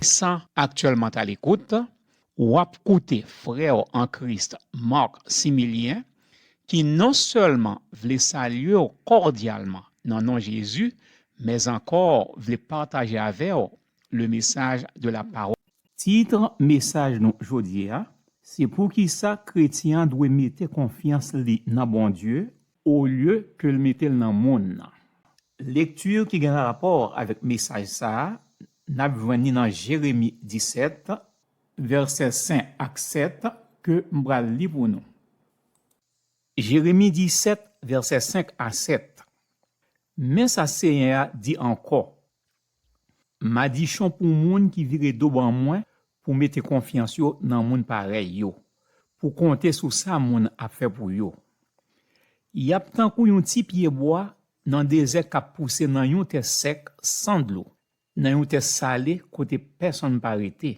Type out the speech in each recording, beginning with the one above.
San aktyèlman t alekout, w ap koute frè w an Kris Marc Similien ki non sèlman vle salye w kòdyalman nan non Jezi mèzankò vle pataje avè w le mesaj de la pawòl. Tit mesaj nou jodi a se Poukisa kretyen an dwe mete konfyans li nan Bondye olye ke l mete l nan monn nan. Lekti ki gen rapò avèk mesaj sa a n ap jwenn ni nan Jeremi 17, vèsè 5 ak 7 ke m pral li pou nou. Jeremi 17, vèsè 5 a 7, Men sa Senyè a di ankò, Madichon pou moun ki vire do ban mwen pou mete konfyans yo nan moun parèy yo, pou konte sou sa moun ap fè pou yo. Y ap tankou yon ti pyebwa nan dezè k ap pouse nan yon tè sèk san dlo, nan yon tè sale kote pèsonn pa rete.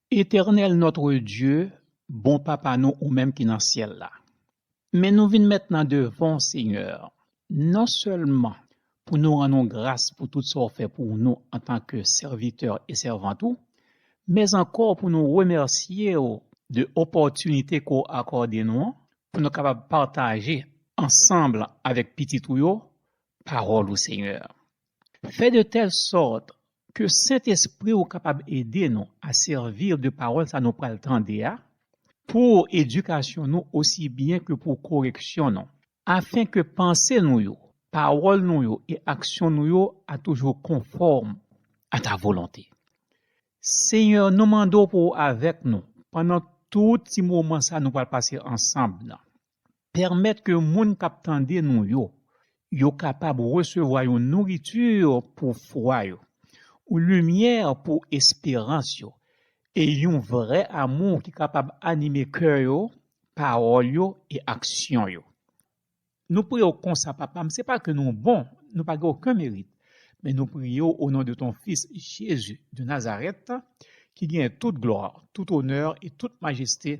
Eternel notre Dieu bon papa nou ou menm ki nan syèl la men nou vin mèt nan devanw Seigneur non sèlman pou nou rann ou gras pou tout sa ou fè pou nou antan ke sèvitè e sèvant ou mèz ankò pou nou remèsyew de opòtinite ke w akòde nou an pou nou kapab pataje ansanbl avèk pitit ou yo pawòl ou Seigneur Fè de tèl sòt ke Sentespri ou kapab ede nou a sèvi de pawòl sa nou pral tande a pou edikasyon nou osi byen ke pou koreksyon nou, afen ke panse nou yo, pawòl nou yo e aksyon nou yo a toujou konfòm a ta volonte. Senyè, nou mande w pou w avèk nou pandan tout ti moman sa nou pral pase ansanm nan. pèmèt ke moun k ap tande nou yo, yo kapab resevwa yon nouriti pou fwa yo, yon limyè pou esperans yo, e yon vrè amou ki kapab anime kè yo, pawòl yo e aksyon yo. Nou priye w konsa, Papa m, se pa ke nou bon, nou pa gen oken merit, men nou priye w onon de ton Fis Jezi de Nazarèt, ki genyen tout glwa, tout onè e tout majeste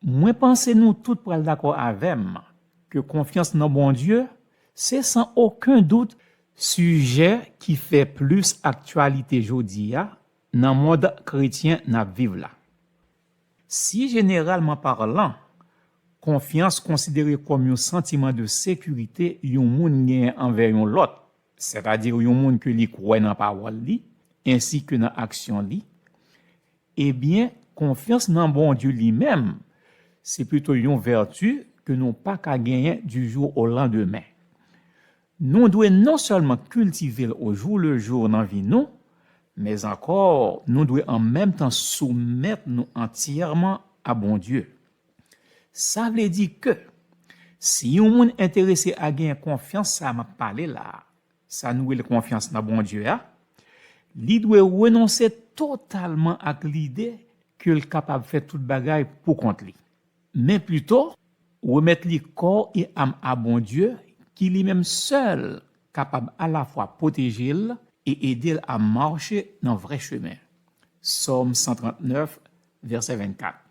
Mwen panse nou tout pral dakò avè m ke konfyans nan Bondye se san oken dout sijè ki fè plis aktyalite jodi a nan mond kretyen n ap viv la. Si jeneralman parlan, konfyans konsidere kòm yon santiman de sekirite yon moun genyen anvè yon lòt, sètadi yon moun ke li kwè nan pawòl li, ensi ke nan aksyon li, ebyen, konfyans nan Bondye li menm, se pito yon vèti ke nou pa ka genyen di jou o landemen. Nou dwe non sèlman kiltive l ojou le jou nan vi nou, mèzankò nou dwe an menm tan soumèt nou antyèman a Bondye. Sa vle di ke si yon moun enterese a genyen konfyans sa a m ap pale la a, sa nou rele konfyans nan Bondye a, li dwe renonse totalman ak lide ke l kapab fè tout bagay pou kont li, men pito remèt li kò e am a Bondye ki li menm sèl kapab alafwa pwoteje l e ede l a mache nan vrè chemen, Sòm 139, vèsè 24.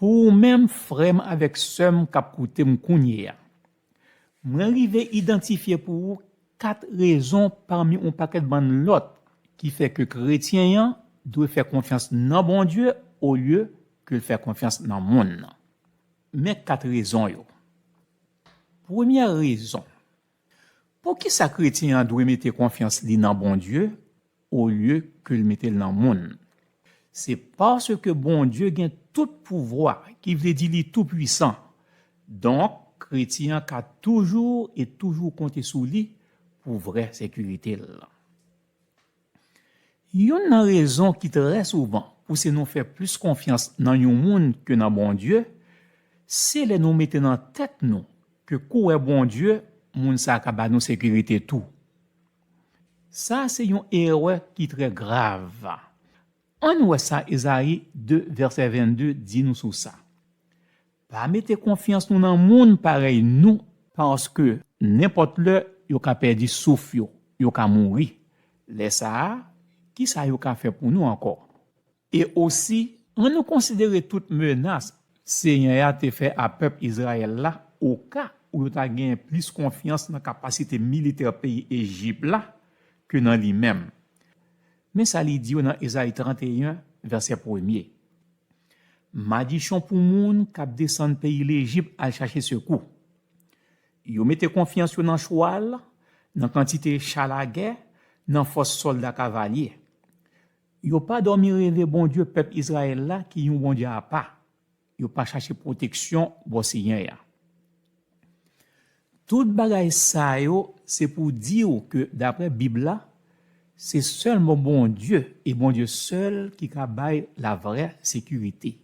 Pou ou menm frè m avèk sè m k ap koute m kounye a, mwen rive idantifye pou ou kat rezon pami yon pakèt bann lòt ki fè ke kretyen an dwe fè konfyans nan Bondye olye ke l fè konfyans nan monn nan. Men kat rezon yo. Premyè rezon. Poukisa kretyen an dwe mete konfyans li nan Bondye olye ke l mete l nan moun? Se paske Bondye gen tout pouvwa, ki vle di li toupwisan. Donk, kretyen an ka toujou e toujou konte sou li pou vrè sekirite l. Youn nan rezon ki trè souvan pouse nou fè plis konfyans nan yon moun ke nan Bondye, se lè nou mete nan tèt nou ke kouwè Bondye moun sa a ka ba nou sekirite tou. Sa a se yon erè ki trè grav. Ann wè sa Ezayi 2 vèsè 22 di nou sou sa, Pa mete konfyans nou nan moun parèy nou paske nenpòt lè yo ka pèdi souf yo, yo ka mouri. Lè sa a, kisa yo ka fè pou nou ankò? E osi, annou konsidere tout menas Senyè a te fè a pèp Izrayèl la oka ou yo ta genyen plis konfyans nan kapasite militè peyi Ejip la ke nan li menm. Men sa li di yo nan Ezayi 31, vèsè premye, Madichon pou moun k ap desann peyi Lejip al chache sekou. Yo mete konfyans yo nan chwal, nan kantite cha lagè, nan fòs sòlda kavalye. Yo pa dòmi reve Bondye pèp Izrayèl la ki yon Bondye apa. Yo pa chache pwoteksyon bò Senyè a. Tout bagay sa yo se pou di w ke daprè Bib la, se sèlman Bondye e Bondye sèl ki ka bay lavrè sekirite.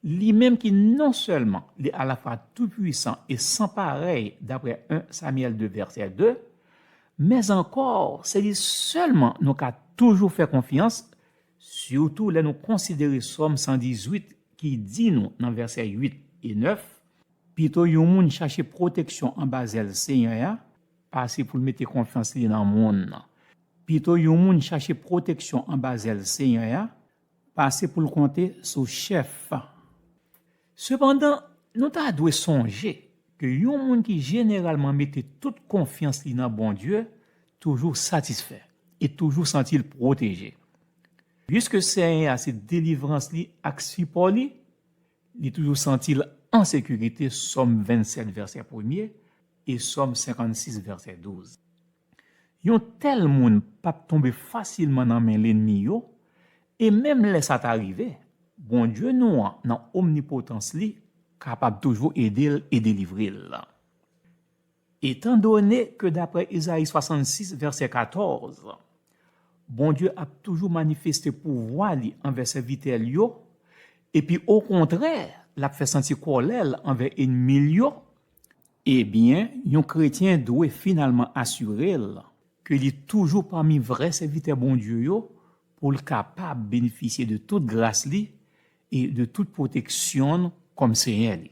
Li menm ki non sèlman li alafwa toupwisan e san parèy daprè 1 Samyèl 2 vèsè 2, mèzankò se li sèlman nou ka toujou fè konfyans, sitou lè nou konsidere Sòm 118 ki di nou nan vèsè 8 e 9, Pito yon moun chache pwoteksyon anba zèl Senyè a, pase pou l mete konfyans li nan moun. Pito yon moun chache pwoteksyon anba zèl Senyè a, pase pou l konte sou chèf an. Sepandan, nou ta dwe sonje ke yon moun ki jeneralman mete tout konfyans li nan Bondye toujou satisfè e toujou santi l pwoteje. Piske Senyè a se delivrans li ak sipò li, Li toujou santi l an sekirite, Sòm 27 vèsè premye e Sòm 56 vèsè 12. Yon tèl moun p ap tonbe fasilman nan men lennmi yo, e menm lè sa ta rive, Bondye nou an nan omnipotans li kapab toujou ede l e delivre l. Etandone ke dapre Ezayi 66 vèsè 14, Bondye ap toujou manifeste pouvwa li anvè sèvitè l yo, epi okontrè l ap fè santi kòlè l anvè enmi l yo, ebyen, yon kretyen dwe finalman asire l ke li toujou pami vrè sèvitè Bondye yo pou l kapab benefisye de tout gras li e de tout pwoteksyon l kòm Senyè li.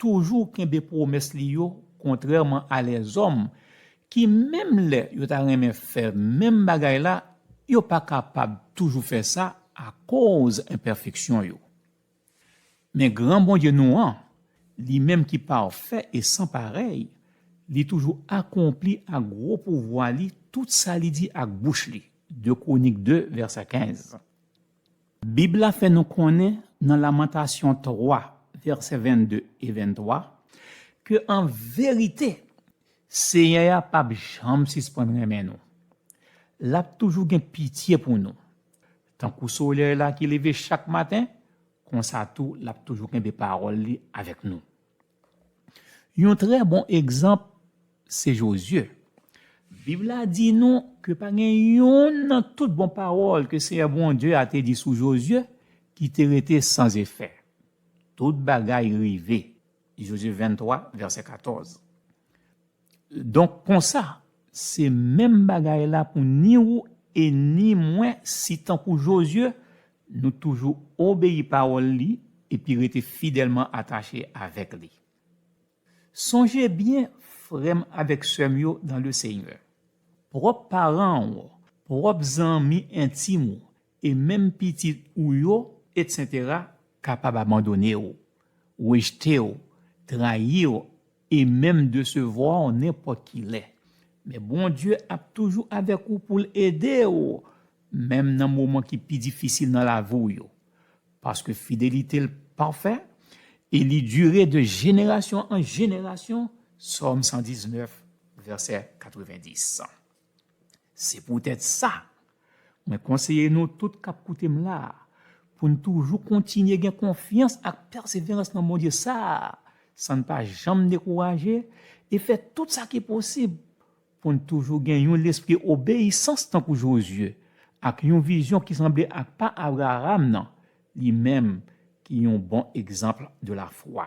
toujou kenbe pwomès li yo kontrèman a lèzòm ki menm lè yo ta renmen fè menm bagay la, yo pa kapab toujou fè sa akoz enpèfeksyon yo. Men gran Bondye nou an, li menm ki pafè e san parèy, li toujou akonpli ak gwo pouvwa li tout sa li di ak bouch li, 2 Kwonik 2 vèsè 15. Bib la fè nou konnen nan Lamantasyon 3, vèsè 22 e 23, ke an verite, Senyè a p ap janm sispann renmen nou. L ap toujou gen pitye pou nou. Tankou solèy la ki leve chak maten, konsa tou l ap toujou kenbe pawòl li avèk nou. Yon trè bon egzanp se Jozye. Bib la di nou ke pa gen youn nan tout bon pawòl ke Senyè Bondye a te di sou Jozye ki te rete san zefè. Tout bagay rive, Jozye 23, vèsè 14. Donk konsa, se menm bagay la pou ni ou e ni mwen si tankou Jozye, nou toujou obeyi pawòl li epi rete fidèlman atache avèk li. Sonje byen, frè m avèk sè m yo dan Lesenyè, pwòp paran w, pwòp zanmi entim ou e menm pitit ou yo, etsetera, kapab abandone w, rejte w, trayi w e menm desevwa w nenpòt ki lè. Men Bondye ap toujou avèk ou pou l ede w menm nan moman ki pi difisil nan lavi w yo. Paske fidelite l pafè e li dire de jenerasyon an jenerasyon, Sòm 119, vèsè 90. Se poutèt sa, mwen konseye nou tout k ap koute m la a pou n toujou kontinye gen konfyans ak pèseverans nan Bondye sa a san n pa janm dekouraje e fè tout sa ki posib pou n toujou gen yon lespri obeyisans tankou Jozye ak yon vizyon ki sanble ak pa Abraram nan, li menm ki yon bon egzanp de lafwa.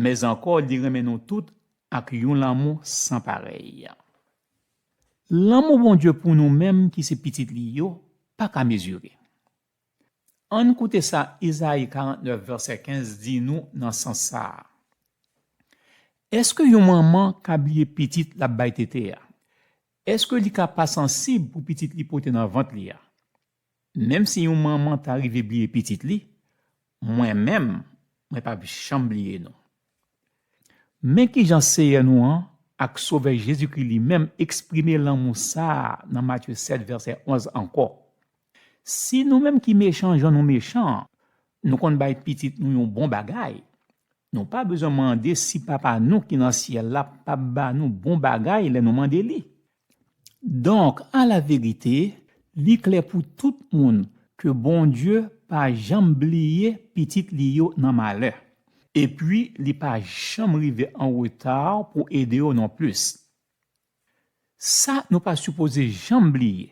Mèz ankò li renmen nou tout ak yon lanmou san parèy. Lanmou Bondye pou nou menm ki se pitit li yo pa ka mezire. Ann koute sa Izayi 49 vèsè 15 di nou nan sans sa a, Èske yon manman ka bliye pitit l ap bay tete a? Èske li ka pa sansib pou pitit li pote nan vant li a? Menm si yon manman ta rive bliye pitit li, mwen menm, mwen pap janm bliye nou. Men kijan Seyè nou an ak Sovè Jezikri li menm eksprime lanmou sa a nan Matye 7 vèsè 11 ankò, Si nou menm ki mechan jan nou mechan an, nou konn bay pitit nou yon bon bagay, nou pa bezwen mande si Papa nou ki nan Syèl la pap ba nou bon bagay lè nou mande li. Donk, alaverite, li klè pou tout moun ke Bondye pa janm bliye pitit li yo nan malè. Epi li pa janm rive an reta pou ede yo nonplis. Sa nou pa sipoze janm bliye,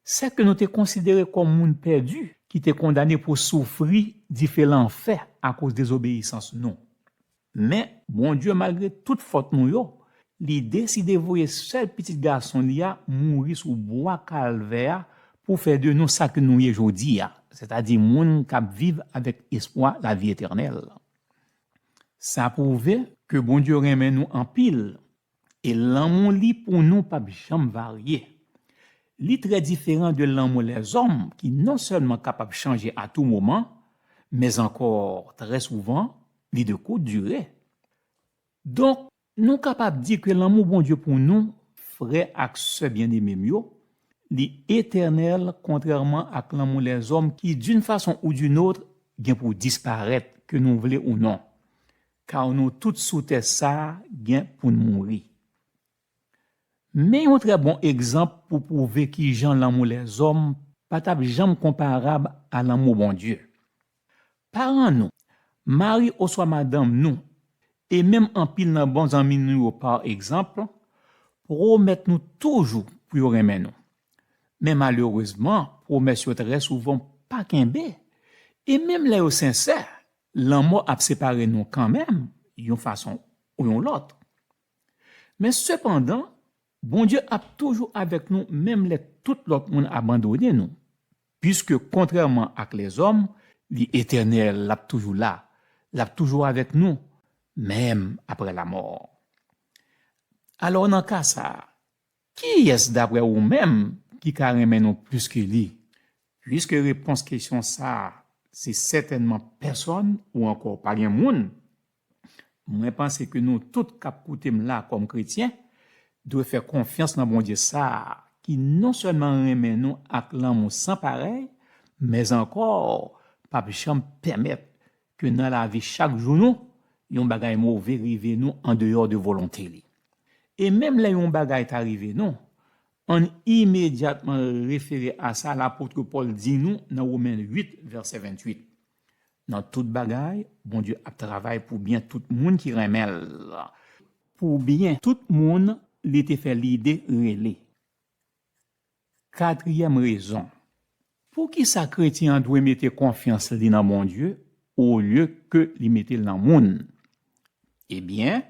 sa ke nou te konsidere kòm moun pèdi ki te kondane pou soufri dife lanfè akoz dezobeyisans nou. Men, Bondye, malgre tout fòt nou yo, li deside voye sèl Pitit Gason li a mouri sou bwa Kalvè a pou fè de nou sa ke nou ye jodi a, sètadi moun k ap viv avèk espwa lavi etènèl. Sa pwouve ke Bondye renmen nou anpil E lanmou li pou nou pap janm varye. Li trè diferan de lanmou lèzòm ki non sèlman kapab chanje a tou moman, mèz ankò trè souvan li de kout dire. Donk, nou kapab di ke lanmou Bondye pou nou, frè ak sè byeneme m yo, li etènèl kontrèman ak lanmou lèzòm ki doun fason ou doun otr gen pou disparèt ke nou vle ou non. Car nou tout sou tè sa gen poun mouri. Men yon trè bon egzanp pou pwouve kijan lanmou lèzòm pa t ap janm konparab a lanmou Bondye. Paran nou, mari oswa madanm nou, e menm anpil nan bon zanmi nou yo pa egzanp, pwomèt nou toujou pou yo renmen nou. Men malerezman pwomès yo trè souvan pa kenbe, e menm lè yo sensè, Lanmò ap separe nou kanmenm yon fason ou yon lòt. Men sepandan, Bondye ap toujou avèk nou menm lè tout lòt moun abandone nou, piske kontrèman ak lèzòm, li etènèl, l ap toujou la, l ap toujou avèk nou, menm apre lamò. Alò, nan ka sa a, Kiyès daprè ou menm ki ka renmen nou plis ke li? Puiske repons kesyon sa a se sètènman pèsòn ou ankò pa gen moun, mwen panse ke nou tout k ap koute m la kòm kretyen dwe fè konfyans nan Bondye sa a ki non sèlman renmen nou ak lanmou san parèy mèzankò pa p janm pèmèt ke nan lavi chak jou nou, yon bagay move rive nou andeyò de volonte li. E menm lè yon bagay ta rive nou, ann imedyatman refere a sa lapotre Pòl di nou nan Women 8, vèsè 28, Nan tout bagay, Bondye ap travay pou byen tout moun ki renmen l, pou byen tout moun li te fè lide rele. Katriyèm rezon poukisa kretyen an dwe mete konfyans li nan Bondye olye ke li mete l nan moun, ebyen,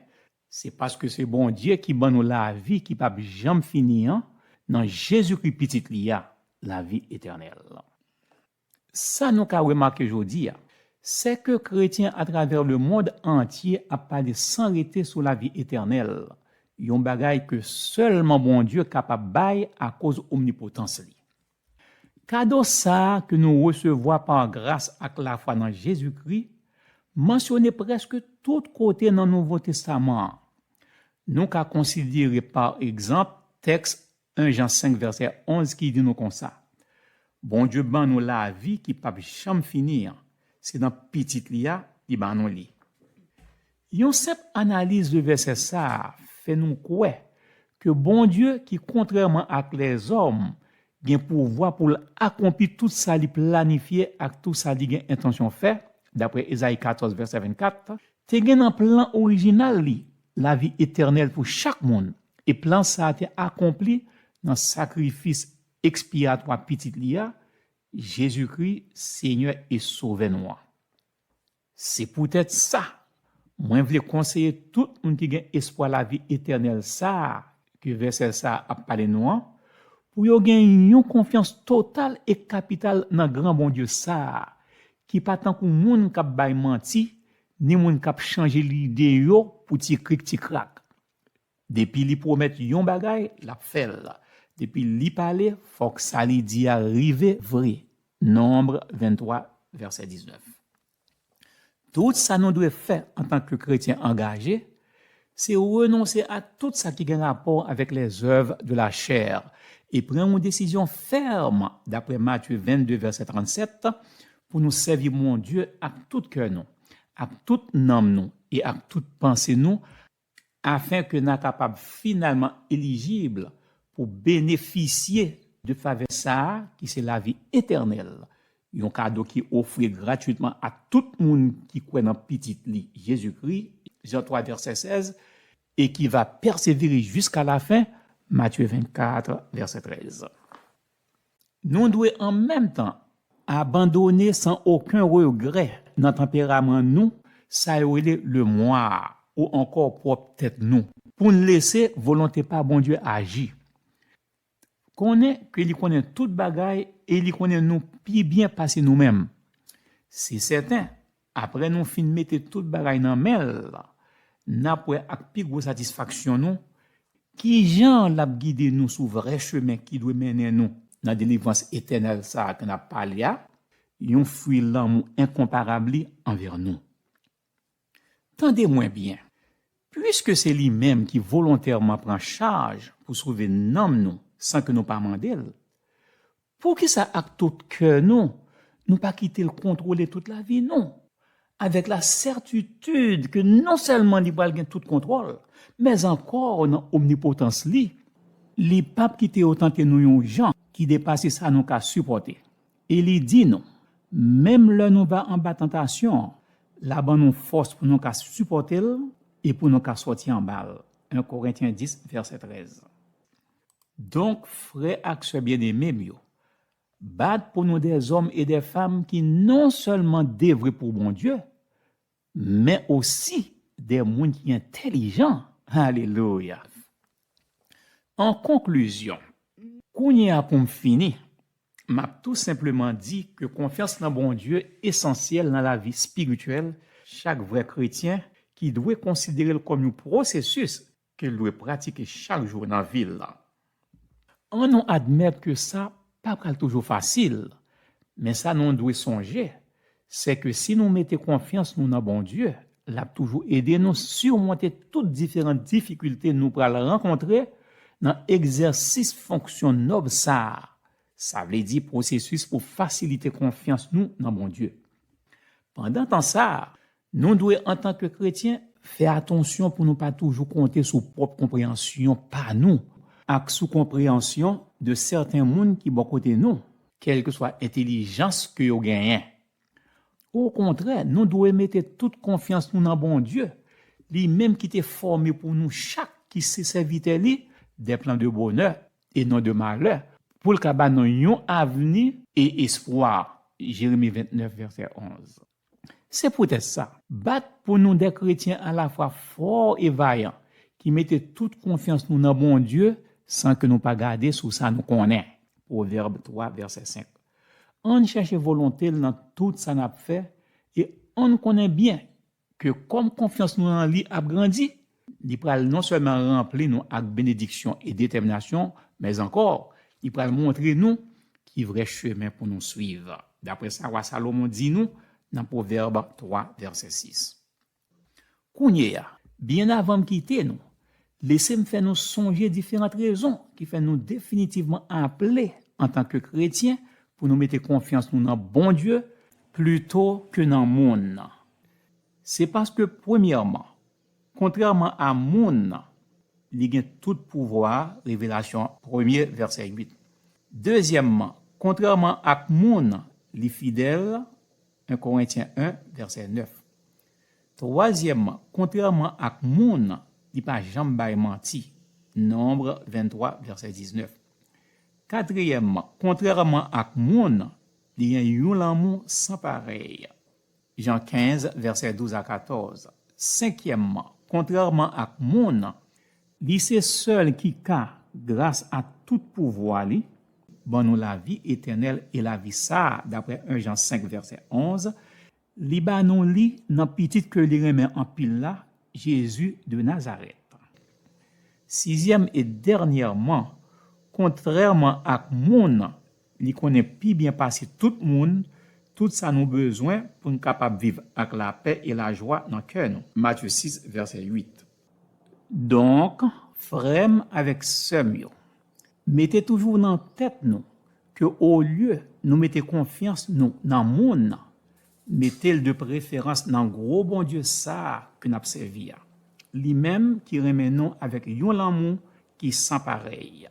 se paske se Bondye ki ban nou lavi ki p'ap janm fini an nan Jezikri Pitit li a, lavi etènèl. Sa nou ka remake jodi a, sèke kretyen atravè lemond antye ap pale san rete sou lavi etènèl, yon bagay ke sèlman Bondye kapab bay akoz omnipotans li. Kado sa a ke nou resevwa pa gras ak lafwa nan Jezikri, mansyone prèske tout kote nan Nouvo Testaman an. Nou ka konsidere pa egzanp tèks 1 Jan 5 vèsè 11 ki di nou konsa, Bondye ban nou lavi ki p'ap janm fini an, se nan Pitit li a li ban nou li. Yon senp analiz de vèsè sa a fè nou kwè ke Bondye ki kontrèman ak lèzòm gen pouvwa pou l' akonpi tout sa li planifye ak tou sa li gen entansyon fè, daprè Ezayi 14 vèsè 24, te gen nan plan orijinal li lavi etènèl pou chak moun E plan sa a te akonpli nan sakrifis ekspiyatwa Pitit li a, Jezikri, Senyè e Sovè nou an. Se poutèt sa, mwen vle konseye tout moun ki gen espwa lavi etènèl sa a ke vèsè sa a ap pale nou an, pou yo gen yon konfyans total e kapital nan gran Bondye sa a, ki pa tankou moun k ap bay manti, ni moun k ap chanje lide yo pou ti krik ti krak. Depi li pwomèt yon bagay, l ap fè l. Depi li pale, fòk sa li di a rive vre. Nonb 23, vèsè 19 Tout sa nou dwe fè antanke kretyen angaje, se renonse a tout sa ki gen rapò avèk lèzèv de lachè e pran yon desizyon fèm daprè Matye 22, vèsè 37, pou nou sèvi Bondye ak tout kè nou, ak tout nanm nou e ak tout panse nou, Afin ke na kapab finalman elijib pou benefisye de favè sa a ki se lavi etènèl, yon kado ki ofri gratwitman a tout moun ki kwè nan Pitit li, Jezikri, Jan 3 vèsè 16, e ki va pèsevere jiska lafen, Matye 24 vèsè 13. Nou dwe an menm tan abandone san oken regrè nan tanperaman nou sa yo rele le moi a ou ankò pwòp tèt nou pou n lese volonte pa Bondye aji. Konnen ke li konnen tout bagay e li konnen nou pi byen pase nou menm. Se sèten, Apre nou fin mete tout bagay nan men l, n ap wè ak pi gwo satisfaksyon nou ki jan l ap gide nou sou vrè chemen ki dwe mennen nou nan delivrans etènèl sa a ke n ap pale a, yon fwi lanmou enkonparab li anvè nou. Tande mwen byen, piske se li menm ki volontèman pran chaj pou sove nanm nou san ke nou pa mande l, Poukisa ak tout kè nou, nou pa kite l kontwole tout lavi nou, avèk la sètitid ke non sèlman li pral gen tout kontwòl, mèz ankò nan omnipotans li, li pap kite yo tante nou yon jan ki depase sa nou ka sipòte. E li di nou, menm lè nou va anba tantasyon an, la ban nou fòs pou nou ka sipòte l e pou nou ka sòti anba l, 1 Korentyen 10, vèsè 13. Donk, frè ak sè byeneme m yo, bat pou nou dèzòm e dèfam ki nonsèlman devwe pou Bondye, men osi de moun ki entelijan. Alelouya! An konklizyon, kounye a pou m fini, m ap tou senpleman di ke konfyans nan Bondye esansyèl nan lavi espirityèl chak vrè kretyen ki dwe konsidere l kòm yon pwosesis ke l dwe pratike chak jou nan vi l lan. An nou admèt ke sa pa pral toujou fasil, men sa nou dwe sonje, se ke si nou mete konfyans nou nan Bondye, l ap toujou ede nou simonte tout diferan difikilte nou pral rankontre nan egzèsis fonksyon nòb sa a, sa vle di pwosesis pou fasilite konfyans nou nan Bondye. Pandan tan sa a, Nou dwe, antanke kretyen, fè atansyon pou nou pa toujou konte sou pwòp konpreyansyon pa nou ak sou konpreyansyon de sèten moun ki bò kote nou, kèlkeswa entelijans ke yo genyen. Okontrè, nou dwe mete tout konfyans nou nan Bondye, li menm ki te fòme pou nou chak ki se sèvitè li dè plan de bonè, e non de malè, pou l ka ba nou yon avni e espwa, Jeremi 29 vèsè 11. Se poutèt sa. Bat pou nou de kretyen alafwa fò e vayan, ki mete tout konfyans nou nan Bondye san ke nou pa gade sou sa nou konnen. Pwovèb 3 vèsè 5 Ann chèche volonte l nan tout sa n ap fè e ann konnen byen ke kòm konfyans nou nan li ap grandi, Li pral non sèlman ranpli nou ak benediksyon e detèminasyon, men ankò, li pral montre nou ki vrè chemen pou nou suiv, daprè sa wa Salomon di nou nan Pwovèb 3, vèsè 6. Kounyeya, byen avan m kite nou, lese m fè nou sonje diferant rezon ki fè nou definitivman aple antanke kretyen pou nou mete konfyans nou nan Bondye plito ke nan moun nan. Se paske, premyèman, Kontrèman a moun, li gen tout pouvwa, Revelasyon premye, vèsè 8. Dezyèmman, kontrèman ak moun, li fidèl, 1 Korentyen 1, vèsè 9. Twazyèmman, kontrèman ak moun, li pa janm bay manti, Nonmbre 23, vèsè 19. Katriyèmman, kontrèman ak moun, li gen yon lanmou san parèy, Jan 15, vèsè 12 a 14, Senkyèmman, kontrèman ak moun, li se sèl ki ka, gras a tout pouvwa li, ban nou lavi etènèl e lavi sa a, daprè 1 Jan 5, vèsè 11, li ba nou li nan Pitit ke li renmen anpil la, Jezi de Nazarèt. Sizyèm e dènyèman, kontrèman ak moun, Li konnen pi byen pase tout moun tout sa nou bezwen pou n kapab viv ak lapè e lajwa nan kè nou. Matye 6, vèsè 8 Donk, frè m avèk sè m yo, mete toujou nan tèt nou ke olye nou mete konfyans nou nan moun, mete l de preferans nan gwo Bondye sa a ke n ap sèvi a, li menm ki renmen nou avèk yon lanmou ki san parèy.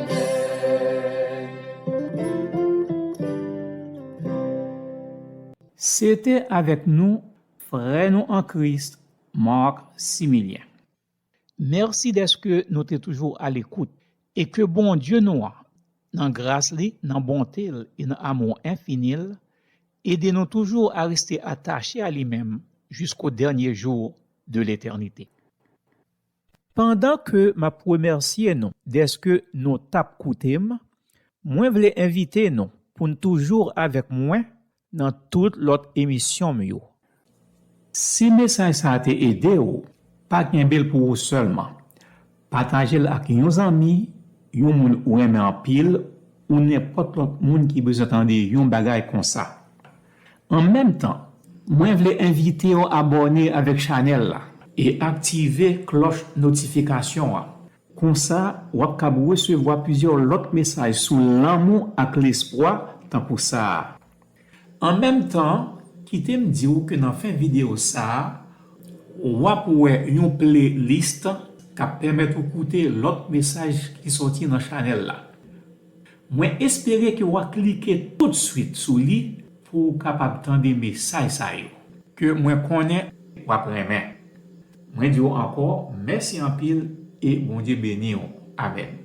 Se te avèk nou frè nou an Kris Marc Similien. Mèsi dèske nou te toujou alekout e ke Bondye nou an, nan gras li, nan bonte l e nan amou enfini l, ede nou toujou a reste atache a li menm jisko dènye jou de letènite. Pandan ke m ap remèsye nou dèske nou t ap koute m, mwen vle envite nou pou n toujou avèk mwen nan tout lòt emisyon m yo. Si mesaj sa a te ede w, pa kenbe l pou ou sèlman. Pataje l ak yon zanmi, yon moun ou renmen anpil, ou nenpòt lòt moun ki bezwen tande yon bagay konsa. An menm tan, mwen vle envite w abòne avèk chanèl la. E aktive klòch notifikasyon an. Konsa, w ap kab resevwa plizyè lòt mesaj sou lanmou ak lespwa tankou sa a. An menm tan, kite m di w ke nan fen videyo sa a, w ap wè yon playlist k ap pèmèt ou koute lòt mesaj ki sòti nan chanèl la. Mwen espere ke wa klike tout swit sou li pou ou kapab tande mesaj sa yo. Ke mwen konnen wap renmen. Mwen diw ankò mèsi anpil e Bondye beniw. Amen.